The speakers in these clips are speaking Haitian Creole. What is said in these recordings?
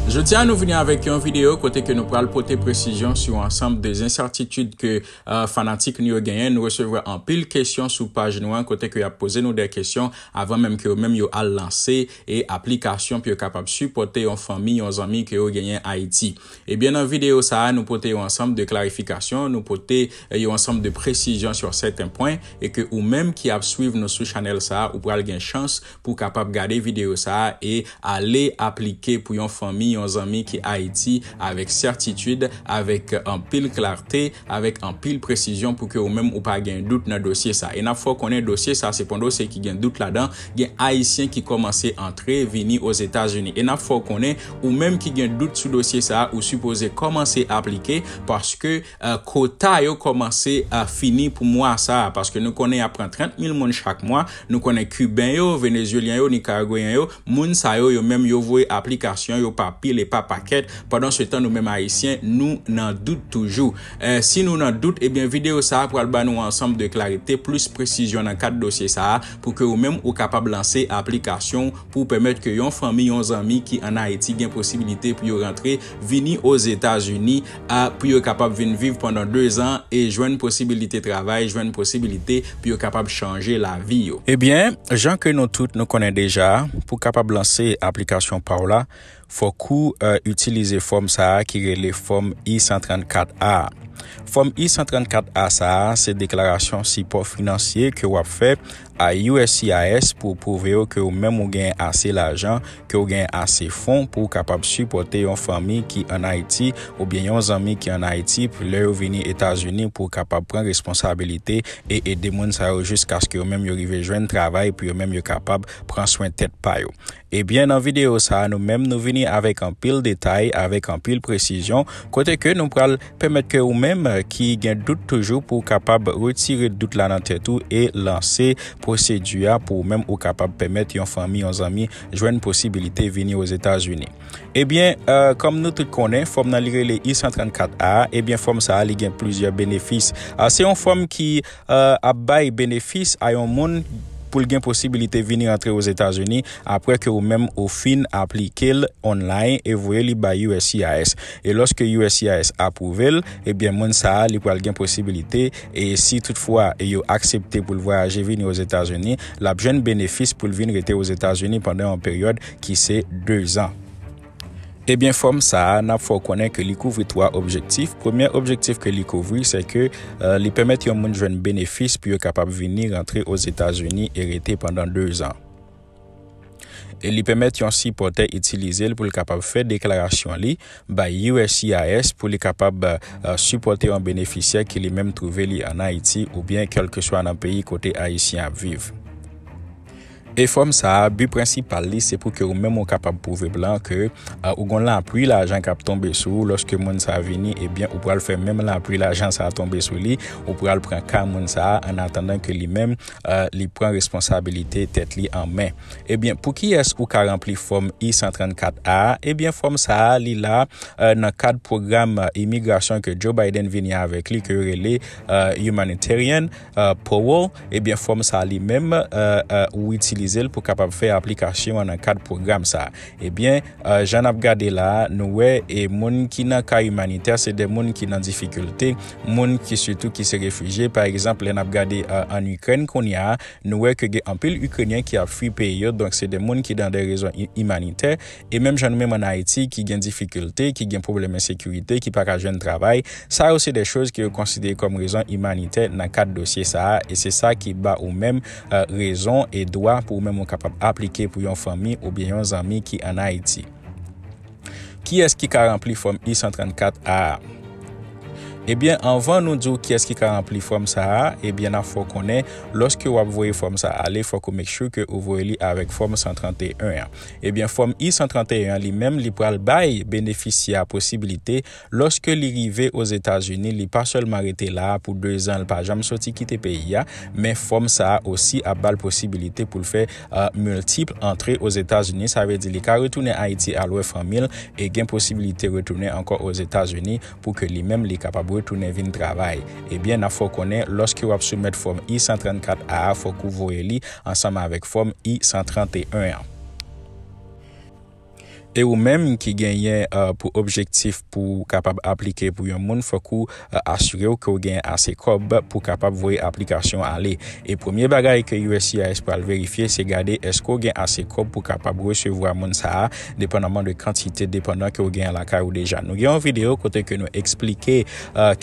Jodi a nou vini avèk yon videyo kote ke nou pral pote presizyon sou ansanm de ensètitid ke euh, fanatik nou yo genyen. Nou resevwa anpil kesyon sou paj nou an kote ke ap poze nou de kesyon avan menm ke yo menm yo al lanse E aplikasyon pou yo kapab sipòte yon fanmi, yon zanmi ke yo genyen Ayiti. Ebyen nan videyo sa a nou pote yon ansanm de klarifikasyon, nou pote yon ansanm de presizyon sur sèten pwen e ke ou menm ki ap swiv nou sou chanèl sa a ou pral gen chans pou w kapab gade videyo sa a e ale aplike pou yon fanmi, yon zanmi ki Ayiti avèk sètitid, avèk anpil klarte, avèk anpil presizyon pou ke ou menm ou pa gen dout nan dosye sa. E nap fè w konnen dosye sa se pon dosye ki gen dout ladan, gen ayisyen ki kòmanse antre vini Ozetazini. E nap fè w konnen ou menm ki gen dout sou dosye sa ou sipoze kòmanse aplike paske kota yo kòmanse fini pou mwa sa paske nou konnen yap pran 30 mil moun chak mwa, nou konnen kiben yo, venezyelyen yo, nikaragweyen yo. Moun sa yo, yo menm yo voye aplikasyon yo pa pil e pa pakèt, pandan se tan nou menm Ayisyen nou nan dout toujou. Si nou nan dout, ebyen videyo sa a pral ba nou ansanm de klarite, plis presizyon nan kad dosye sa a pou ke ou menm ou kapab lanse aplikasyon w pou w pèmèt ke yon fanmi, yon zanmi ki an Ayiti gen posibilite pou yo rantre vini Ozetazini a pou yo kapab vin viv pandan dezan e jwenn posibilite travay, jwenn posibilite pou yo kapab chanje lavi yo. Ebyen, jan ke nou tout nou konnen deja, pou kapab lanse aplikasyon pa w la, fòk ou itilize fòm sa a ki rele fòm I-134 A. Fòm I-134 A sa a se deklarasyon sipò finansye ke w ap fè a uscis pou w pwouve yo ke ou menm ou gen ase lajan, ke ou gen ase fon pou ou kapab sipòte yon fanmi ki an Ayiti oubyen yon zanmi ki an Ayiti pou lè yo vini Etazini pou ou kapab pran responsabilite e ede moun sa yo jiskaske yo menm yo rive jwenn travay pou yo menm yo kapab pran swen tèt pa yo. Ebyen nan video sa nou menm nou vini avèk anpil detay avèk anpil presizyon kote ke nou pral pèmèt ke ou menm ki gen dout toujou pou kapab retire dout la nan tèt ou e lanse pwosedi a pou ou menm ou kapab pèmèt yon fanmi yon zanmi jwenn posibilite vini ozetazini ebyen kòm nou tout konnen fòm nan li rele i 134 a ebyen fòm sa li gen plizyè benefis se yon fòm ki ap bay benefis a yon moun pou l gen posibilite vini antre Ozetazini apre ke ou menm ou fin aplike l online e voye li bay uscis. E loske uscis apwouve l, ebyen moun sa a li pral gen posibilite e si tout fwa yo aksepte pou l vwayaje vini Ozetazini, l ap jwenn benefis pou l vin rete Ozetazini pandan yon peryòd ki se 2 zan. Ebyen fòm sa a, n ap fè w konnen ke li kouvri 3 objektif. Premye objektif ke li kouvri, se ke li pèmèt yon moun jwenn benefis pou yo kapab vini rantre Ozetazini e rete pandan 2 zan. E li pèmèt yon sipòtè itilize l pou l kapab fè deklarasyon li bay uscis pou li kapab sipòte yon benefisyè ki li menm twouve li an Ayiti oubyen kèlkeswa nan peyi kote Ayisyen ap viv. Efòm sa a, bi prensipal li se pou ke ou menm ou kapab pwouve blan ke ou gon lapwi lajan kap tonbe sou ou lòske moun sa vini ebyen ou pral fè menm lapwi lajan sa tonbe sou li ou pral pran ka moun sa a an atandan ke li menm li pran responsabilite tèt li an men. Ebyen pou kiyès ou ka ranpli fòm I-134 a? Ebyen fòm sa a li la nan kad pwogram imigrasyon ke Joe Biden vini avèk li ke yo rele Humanitarian. Powo, ebyen fòm sa a li menm ou itilize l pou kapab fè aplikasyon an nan kad pwogram sa a. Ebyen, jan n ap gade la a, nou wè e moun ki nan ka imanitè se de moun ki nan difikilte, moun ki sitou ki se refijye. Pa egzanp, lè n ap gade ann Ikrèn kounye a, nou wè ke gen anpil Ikrenyen ki ap fui peyi yo, donk se de moun ki nan de rezon imanitè. E menm jan nou menm an Ayiti ki gen difikilte, ki gen pwoblèm ensekirite, ki pa ka jwenn travay, sa yo se de choz ke yo konsidere kòm rezon imanitè nan kad dosye sa a, e se sa ki ba ou menm rezon e dwa pou ou menm ou kapab aplike pou yon fanmi oubyen yon zanmi ki an Ayiti. Kiyès ki ka ranpli fòm I-134 A a? Ebyen, anvan nou di ou kiyès ki ka ranpli fòm sa a, ebyen nap fè w konnen, lòske wap voye fòm sa ale fòk ou make sure ke ou voye li avèk fòm 131 an. Ebyen Fòm I-131 an li menm li pral bay benefisyè a posibilite lòske li rive Ozetazini li pa sèlman rete la a pou 2 zan l pa janm soti kite peyi a men fòm sa a osi ap ba l posibilite pou l fè multiple antre Ozetazini sa vle di li ka retounen Ayiti al wè fanmi l e gen posibilite retounen ankò Ozetazini pou ke li menm li kapab retounen vin travay, ebyen nap fè w konnen lòske wap soumèt fòm I 134 A a fòk ou voye li ansanm avèk fòm I 131 an. E ou menm ki genyen pou objektif pou w kapab aplike pou yon moun fòk ou asire w ke w genyen ase kòb pou w kapab voye aplikasyon an ale. E premye bagay ke uscis pral verifye se gade èske w gen ase kòb pou w kapab resevwa moun sa a depandaman de kantite depandan ke ou genyen lakay ou deja. Nou gen yon video kote ke nou eksplike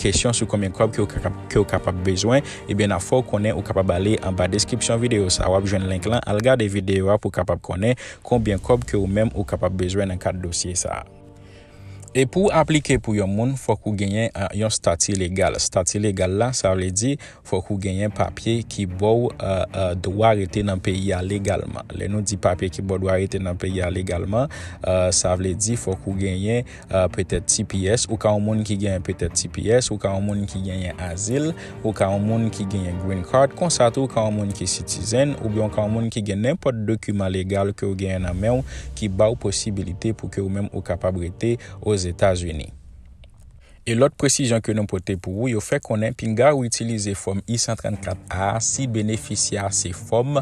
kesyon sou konbyen kob ke ou kapab bezwen, ebyen na fè ou konnen ou kapab ale anba deskripsyon video sa wap jwenn link lan al gade video a pou kapab konnen konbyen kob ke ou menm ou kapab bezwen nan kad dosye sa. E pou w aplike pou yon moun, fòk ou genyen yon stati legal. Stati legal la, sa vle di, fòk ou genyen papye ki bò w dwa rete nan peyi a legalman. Lè nou di papye ki bò w dwa rete nan peyi a legalman, sa vle di fòk ou genyen petèt tps, ou ka yon moun ki genyen petèt tps, ou ka yon moun ki genyen azil. Ou ka yon moun ki genyen Green Card, konsa tou ou ka yon moun ki sitizen, oubyen ou ka yon moun ki gen nenpòt dokiman legal ke ou genyen nan men ou ki ba ou posibilite pou ke ou menm ou kapab rete Ozetazini. E lòt presizyon ke nou pote pou ou, yo fè konnen pinga ou itilize fòm I-134 A a si benefisyè a se fòm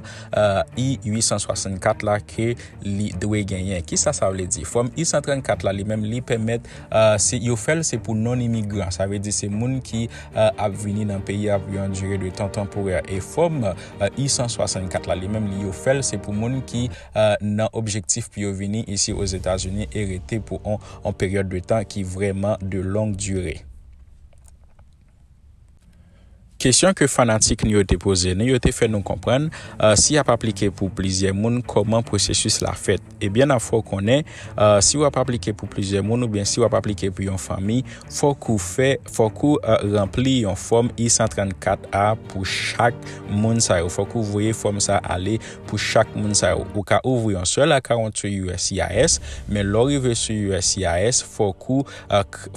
I-864 la ke li dwe genyen. Kisa sa vle di? Fòm I-134 la li menm li pèmèt Si yo fè l, se pou non-imigran, sa vle di se moun ki ap vini nan peyi a pou yon dire de tan tanporè. E Fòm I-164 la, li menm li yo fè l, se pou moun ki nan objektif pou yo vini isi Ozetazini e rete pou yon peryòd de tan ki vrèman de long dire. Kesyon ke fanatik nou yo te poze nou yo te fè nou konprann si y ap aplike pou plizyè moun kòman pwosesis la fèt. Ebyen n ap fè w konnen si w ap aplike pou plizyè moun oubyen si w ap aplike pou yon fanmi fòk ou fè fòk ou ranpli yon fòm I-134 a pou chak moun sa yo fòk ou voye fòm sa ale pou chak moun sa yo. Ou ka ouvri yon sèl akawont sou uscis men lè w rive sou uscis fòk ou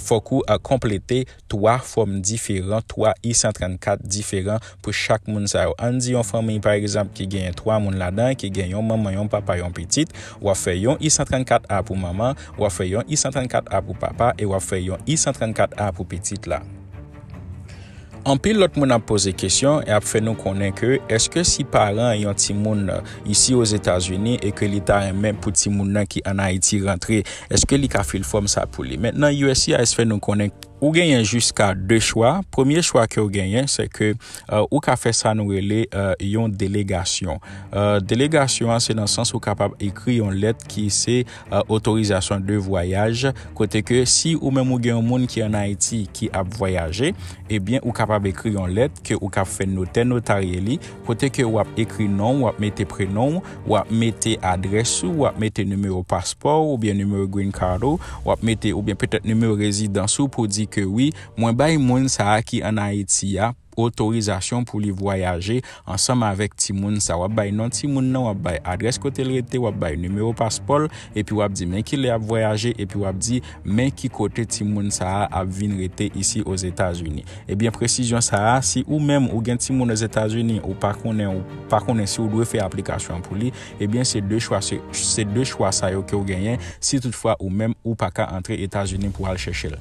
fòk ou konplete 3 fòm diferan, 3 i 134 diferan pou chak moun sa yo. Ann di yon fanmiy pa egzanp ki genyen 3 moun ladan, ki gen yon manman, yon papa, yon pitit, w ap fè yon i 134 a pou manman, w ap fè yon i 134 a pou papa e w ap fè yon i 134 a pou pitit la. Anpil lòt moun ap poze kesyon e ap fè nou konnen ke èske si paran yon timoun isi ozetazini e ke li ta renmen pou timoun nan ki an ayiti rantre eske li ka fil fòm sa pou li mentnan uscis fè nou konnen ou genyen jiska 2 chwa premye chwa kew genyen se ke ou ka fè sa nou rele yon delegasyon delegasyon an se nan sans ou kapab ekri yon lèt ki se otorizasyon de vwayaj kote ke si ou menm ou gen yon moun ki an ayiti ki ap vwayaje ebyen ou kapab ekri yon lèt ke ou kap fè notè notarye li Kote ke ou ap ekri non ou, ou ap mete prenon ou, ou ap mete adrès ou, ou ap mete nimewo paspò ou oubyen nimewo green card ou, ou ap mete oubyen petèt nimewo rezidans ou pou di ke wi mwen bay moun sa a ki an Ayiti a otorizasyon pou li vwayaje ansanm avèk timoun sa a. W ap bay non timoun nan, w ap bay adrès kote l rete, w ap bay nimewo paspò l epi w ap di men kilè y ap vwayaje epi w ap di Men ki kote timoun sa a ap vin rete isi Ozetazini. Ebyen presizyon sa a, si ou menm ou gen timoun Ozetazini, ou pa konnen ou pa konnen si ou dwe fè aplikasyon an pou li, ebyen se 2 chwa se 2 chwa sa yo ke ou genyen si tout fwa ou menm ou pa ka antre Etazini pou al chèche l.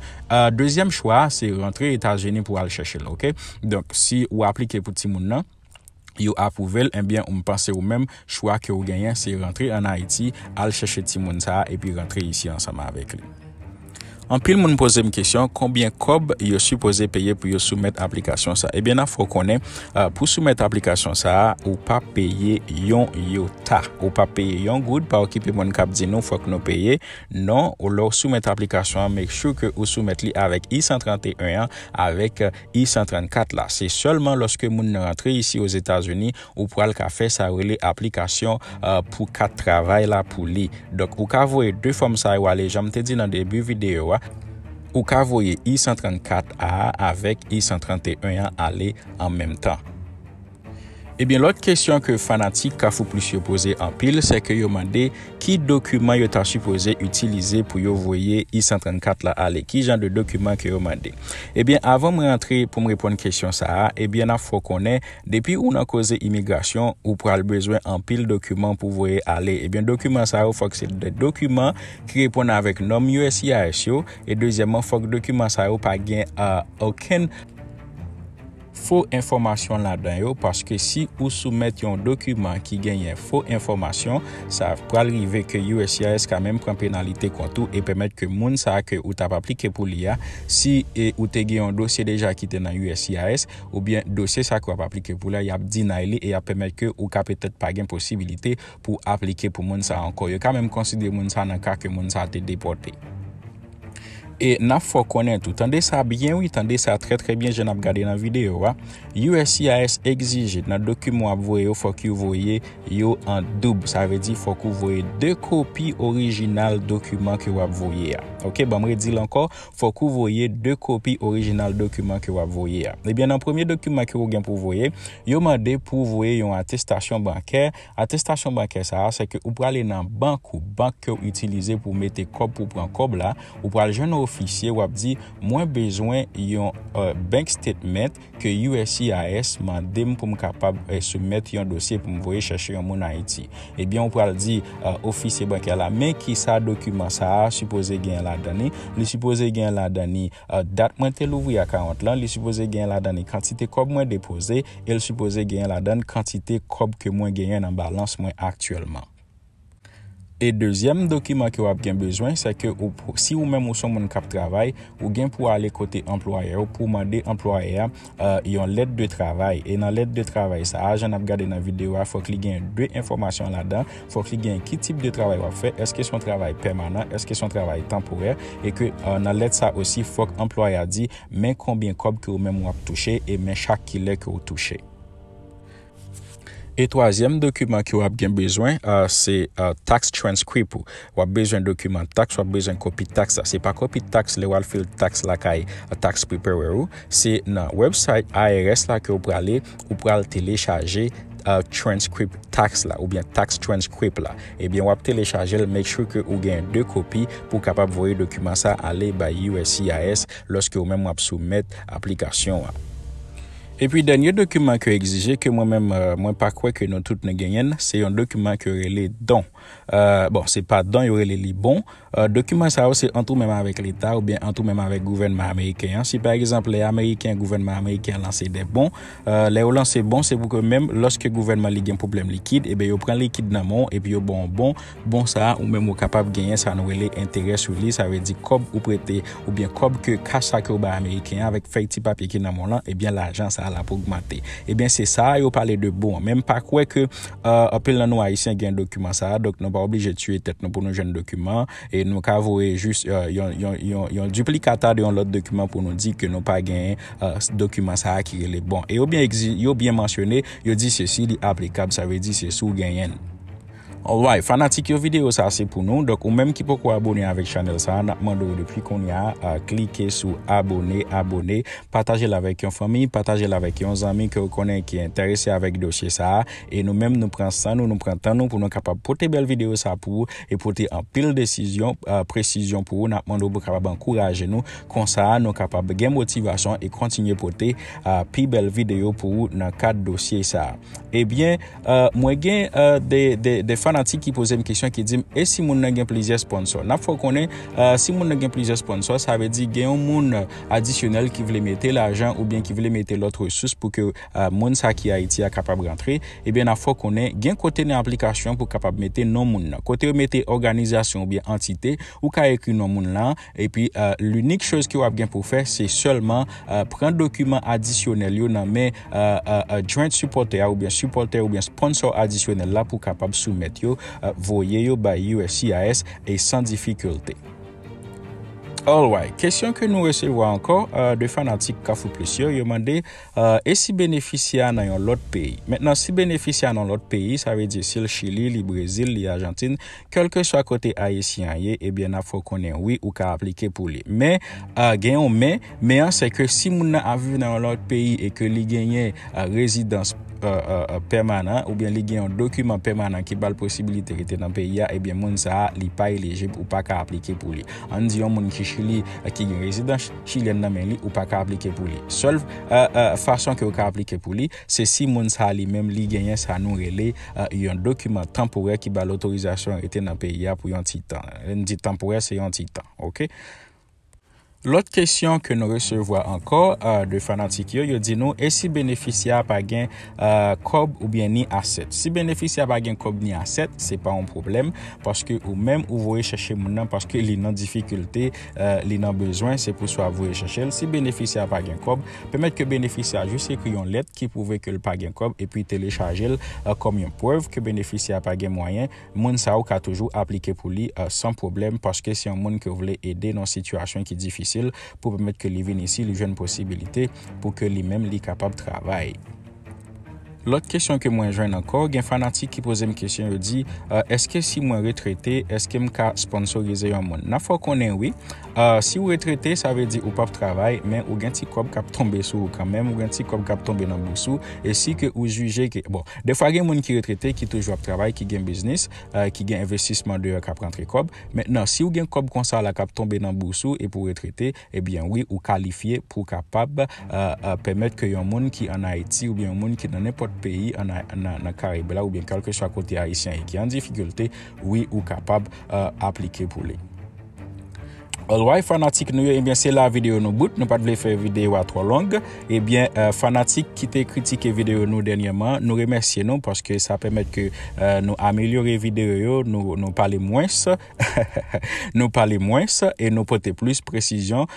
Dezyèm chwa a se rantre Etazini pou al chèche l ok. Donk si ou aplike pou timoun nan. yo apwouvel enbyen m panse ou menm chwa ke ou genyen se rantre an Ayiti al chèche timoun sa a epi rantre isi ansanm avèk li. Anpil moun poze m kesyon konbyen kòb yo sipoze peye pou yo soumèt aplikasyon sa a. Ebyen nan fè w konnen pou soumèt aplikasyon sa a ou pa peye yon yota. Ou pa peye yon goud pa okipe moun kap di nou fòk nou peye non lè w soumèt aplikasyon an make sure ke ou soumèt li avèk I-131 an avèk I-134 la, se sèlman lòske moun nan rantre isi Ozetazini ou pral ka fè sa yo rele aplikasyon pou kat travay la pou li. Donk, ou ka voye 2 fòm sa yo ale, jan m te di nan debi videyo a, ou ka voye I-134 a avèk I-131 an ale an menm tan. Ebyen lòt kesyon ke fanatik Kafou Plis yo poze anpil se ke yo mande ki dokiman yo ta sipoze itilize pou yo voye I-134 la ale, ki jan de dokiman ke yo mande. Ebyen avan mwen antre pou m reponn kesyon sa a, ebyen n ap fè w konnen depi ou nan koze imigrasyon ou pral bezwen anpil dokiman pou voye ale, ebyen dokiman sa yo fòk se de dokiman ki reponn avèk nòm uscis yo e dezyèmman fòk dokiman sa yo pa gen okenn. fo enfòmasyon ladan yo paske si ou soumèt yon dokiman ki genyen fo enfòmasyon sa pral rive ke uscis ka menm pran penalite kont ou e pèmèt ke moun sa ke ou tap aplike pou li a si ou te gen yon dosye deja ki te nan uscis oubyen dosye sa ke wap aplike pou li a yap deny li e yap pèmèt ke ou ka petèt pa gen posibilite pou aplike pou moun sa ankò yo ka menm konsidere moun sa nan ka ke moun sa te depòte. E nap fè w konnen tou, tande sa byen wi, tande sa trè trè byen jan nap gade nan videyo a, uscis egzije nan dokiman wap voye yo fòk yo voye yo an doub, sa vle di fòk ou voye 2 kopi orijinal dokiman ke wap voye a. Ok, banm redi l ankò, fòk ou voye 2 kopi orijinal dokiman ke wap voye a. Ebyen nan premye dokiman ke ou gen pou voye, yo mande pou voye yon atestasyon bankè Atestasyon bankè sa a, sèke ou prale nan bank ou, bank ke w itilize pou w mete kòb pou w pran kòb la, ou pral jwenn yon ofisye, w ap di, mwen bezwen yon bank statement ke uscis mande m pou m kapab soumèt yon dosye pou m voye chèche yon moun Ayiti. Ebyen ou pral di ofisye bankè la, men kisa dokiman sa a sipoze genyen ladan li, li sipoze genyen ladan li dat mwen te louvri akawont lan, li sipoze genyen ladan li kantite kòb mwen depoze, el sipoze genyen ladann kantite kòb ke mwen genyen nan balans mwen aktyèlman. E dezyèm dokiman ke wap gen bezwen se ke ou si ou menm ou son moun kap travay ou gen pou ale kote anplwayè ou pou mande anplwayè a yon lèt de travay e nan lèt de travay sa a jan nap gade nan videyo a fòk li gen 2 enfòmasyon ladan fòk li gen ki tip de travay wap fè eske son travay pèmanan eske son travay tanporè e ke nan lèt sa osi fòk anplwayè a di Men konbyen kòb ke ou menm ou ap touche e men chak kilè ke ou touche. E twazyèm dokiman ke ou ap gen bezwen se tax transcript ou. Ou ap bezwen dokiman tax, ou ap bezwen kopi tax la. Se pa kopi tax lè ou al file tax lakay tax preparer ou. Se nan website IRS la ke ou prale, ou pral telechaje transcript tax la oubyen tax transcript la. Ebyen wap telechajel make sure ke ou gen 2 kopi pou kapab voye dokiman sa ale bay uscis loske ou menm wap soumèt aplikasyon an. Epi dènye dokiman ke egzije ke mwen menm mwen pa kwè ke nou tout nou genyenn se yon dokiman ke rele don bon se pa don yo rele li bon Dokiman sa yo se ant ou menm avèk Leta oubyen ant ou menm avèk gouvènman ameriken an. Si pa egzanp lè ameriken, gouvènman ameriken an lanse dè bon, lè yo lanse bon se pou ke menm lòske gouvènman li gen pwoblèm likid, eben yo pran likid nan men w epi yo ban w bon, bon sa a ou menm ou kapab genyen sa nou rele enterè sou li, sa vle di kòb ou prete oubyen kòb ke kach sa ke ou bay ameriken an avèk fèy ti papye ki nan men w lan, eben lajan sa a l ap ogmante. Eben se sa a yo pale de bon an. Men m pa kwè ke. Anpil nan nou Ayisyen gen dokiman sa a, donk nou pa oblije tiye tèt nou pou nou jwenn dokiman an. E nou ka voye jis yon diplikata de yon lòt dokiman pou nou di ke nou pa genyen dokiman sa a ki rele bon. E yo byen mansyone, yo di se si li aplikab, sa vle di se si w genyen l. Alright, fanatik yo videyo sa se pou nou. Donk ou menm ki poko abone avèk chanèl sa a, n ap mande w depi kounye a, klike sou abone, abone. Pataje l avèk yon fanmi, pataje l avèk yon zanmi ke ou konnen ki enterese avèk dosye sa a, e nou menm nou pran san nou, nou pran tan nou pou nou kapab pote bèl videyo sa a pou ou e pote anpil desizyon, presizyon pou ou, n ap mande w pou kapab ankouraje nou, konsa nou kapab gen motivasyon e kontinye pote pi bèl videyo pou ou nan kad dosye sa a. Ebyen. Mwen gen de fanatik ki poze m kesyon ki di m e si moun nan gen plizyè sponsò? N ap fè w konnen si moun nan gen plizyè sponsò sa vle di gen yon moun adisyonèl ki vle mete lajan oubyen ki vle mete lòt resous pou ke moun sa ki Ayiti a kapab rantre ebyen n ap fè w konnen gen kote nan aplikasyon pou kapab mete non moun nan kote yo mete òganizasyon oubyen antite ou ka ekri non moun lan. Epi l'unique chose ke wap gen pou fè se sèlman pran dokiman adisyonèl yo nan men joint supporter a oubyen supporter oubyen sponsor adisyonèl la pou kapab soumèt yo voye yo bay uscis e san difikilte. Alright, kesyon ke nou resevwa ankò de fanatik Kafou Plis yo, yo mande Ahh e si benefisyè a nan yon lòt peyi? Mentnan si benefisyè a nan lòt peyi sa vle di sil chili li brezil li ajantin kelkeswa kote ayisyen an ye ebyen nap fè w konnen wi ou ka aplike pou li men ahh gen yon men men an se ke si moun nan ap viv nan yon lòt peyi e ke li genyen ahh rezidans ahh ahh pèmanan oubyen li gen yon dokiman pèmanan ki bal posibilite rete nan peyi a ebyen moun sa li pa elijib ou paka aplike pou li ann di yon moun ki chili ki gen rezidans chilyèn nan men li ou paka aplike pou li. Sèl fason ke ou ka aplike pou li se si moun sa li menm li genyen sa nou rele yon dokiman tanporè ki bal otorizasyon rete nan peyi a pou yon ti tan. Lè n di tanporè se yon ti tan ok. Lòt kesyon ke nou resevwa ankò de fanatik yo, yo di nou e si benefisyè a pa gen kòb oubyen ni asèt. Si benefisyè a pa gen kòb ni asèt se pa yon pwoblèm paske ou menm ou voye chèche moun nan paske li nan difikilte. li nan bezwen, se pou swa voye chèche l. Si benefisyè a pa gen kòb, pèmèt ke benefisyè a jis ekri yon lèt ki pwouve ke l pa gen kòb epi telechaje l kòm yon prèv ke benefisyè a pa gen mwayen. Moun sa yo ka toujou aplike pou li san pwoblèm paske se yon moun ke w vle ede nan yon sitiyasyon ki difisil pou pèmèt ke li vin isi, li jwenn posibilite pou ke li menm li kapab travay. Lòt kesyon ke mwen jwenn ankò, gen fanatik ki poze m kesyon yo di, eske si mwen retrete, eske m ka sponsorize yon moun? Nan fè w konnen wi. Si w retrete, sa vle di ou pap travay, men ou gen ti kòb kap tonbe sou ou kanmenm, ou gen ti kòb kap tonbe nan bous ou, e si ke ou jije ke, bon, defwa gen moun ki retrete ki toujou ap travay, ki gen biznis, ki gen envestisman deyò kap rantre kòb, men nan, si w gen kòb konsa la kap tonbe nan bous ou epi w retrete, Ebyen wi ou kalifye pou kapab pèmèt ke yon moun ki an Ayiti oubyen yon moun ki nan nenpòt peyi nan Karayib la oubyen kèlkeswa kote Ayisyen ye ki an difikilte, wi ou kapab aplike pou li. Alright fanatik nou yo ebyen se la videyo nou bout nou pat vle fè videyo a twò long ebyen fanatik ki te kritike videyo nou dènyèman nou remèsye nou paske sa pèmèt ke nou amelyore videyo yo nou pale mwens Nou pale mwens e nou pote plis presizyon,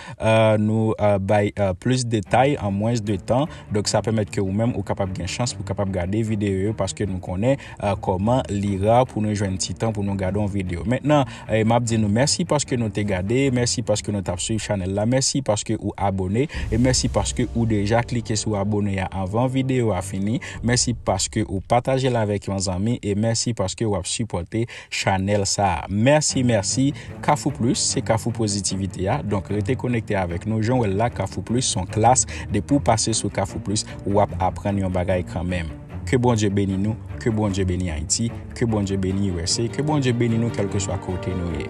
nou bay plis detay an mwens de tan, donk sa pèmèt ke ou menm ou kapab gen chans pou kapab gade videyo yo paske nou konnen kòman li ra pou nou jwenn ti tan pou nou gade yon videyo. Mentnan, m ap di nou mèsi paske nou te gade, mèsi paske nou t ap swiv chanèl la, mèsi paske ou abone e mèsi paske ou deja klike sou abone a anvan videyo a fini, mèsi paske ou pataje l avèk yon zanmi e mèsi paske w ap sipòte. Chanel sa. Merci merci. Kafou plus se kafou pozitivite a donk rete konekte avèk nou jan w wè l la kafou plus son klas depi w pase sou kafou plus wap aprann yon bagay kanmenm ke Bondye beni nou ke Bondye beni Ayiti ke Bondye beni usa ke Bondye beni nou kèlkeswa kote nou ye.